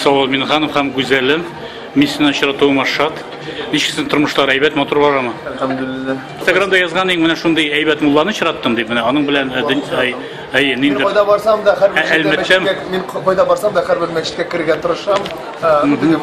Салават Минханов һәм Гүзәле. Мин сине очратуыма шат. Ничексең тормышлар әйбәт, матур барамы? Әлхәмдулиллаһ. Инстаграмда язган иң менә шундый әйбәт мулланы очраттым дип, менә аның белән әй, нинди Кайда барсам да һәрбер мәчеткә мин кайда барсам да һәрбер мәчеткә керергә тырышам.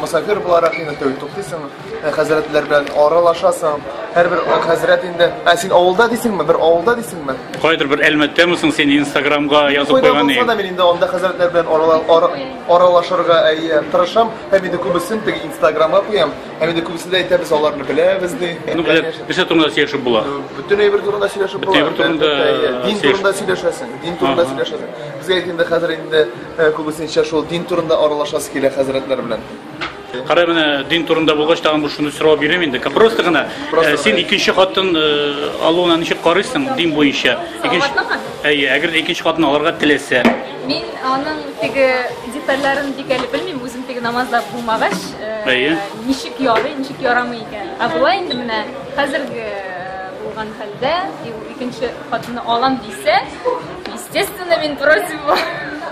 Мөсафир буларак инде тәү туктыйсың. Ә хәзрәтләр белән аралашасың. Һәрбер хәзрәт инде, ә син авылда дисеңме? Бер авылда дисеңме? Кайдыр бер Әлмәттәме соң син Инстаграмга язып Кайда куйган булса да мин инде анда хәзрәтләр белән арала- ара- аралашырга әйе тырышам. Һәм инде күбесен теге Инстаграмга куям. Һәм инде күбесе дә әйтә без аларны беләбез ди. Ну, белә, Конечно. нәрсә турында сөйләшеп була? Бөтен әйбер турында сөйләшеп Бөтен әйбер турында, Әлбәттә, әйе. Дин сөйләш- турында сөйләшәсең. Дин турында Ага. сөйләшәсең. Безгә инде хәзер инде э, күбесенчә шул дин турында аралашасы килә хәзрәтләр белән. Кара менә дин турында булгач тагын бу шуны сорау бирәм инде. Просто гына э, син икенче хатын э, алуына ничек карыйсың дин буенча? Икенче Әйе, әгәр дә икенче хатын алырга теләсә. Мин аның теге детальләрен бик әле белмим, үзем теге намазда булмагач, э, Әйе. ничек ярый, ничек ярамый икән. Ә болай инде менә хәзерге булган хәлдә, икенче хатынны алам дисә, Естественно, мин против бу.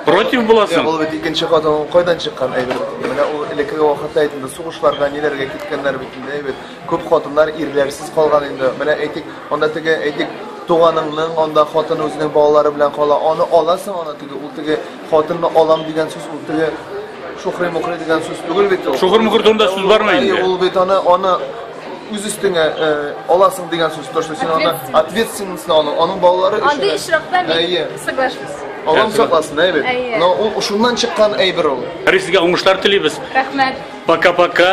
Против Ул буласың? бит икенче хатынның кайдан чыккан әйбер. Менә ул элекке вакытта әйт инде сугышларга ниләргә киткәннәр бит инде әйбер. Күп хатыннар ирләрсез калган инде. Менә әйтик, анда теге әйтик туганыңның анда хатын үзенең балалары белән кала. Аны аласың аны теге ул теге хатынны алам дигән сүз ул теге шухри-мухри дигән сүз түгел бит ул. Шухыр-мухыр турында сүз бармы инде? Ул бит аны аны үз өстеңә э, аласың дигән сүз, то, что син аны ответственностьны аласың, аның балалары өчен. Андый очракта мин соглашусь. Аллам сакласын, әйбер. Но ул шуннан чыккан әйбер ул. Рис сезгә уңышлар телибез. Рәхмәт. Пока-пока.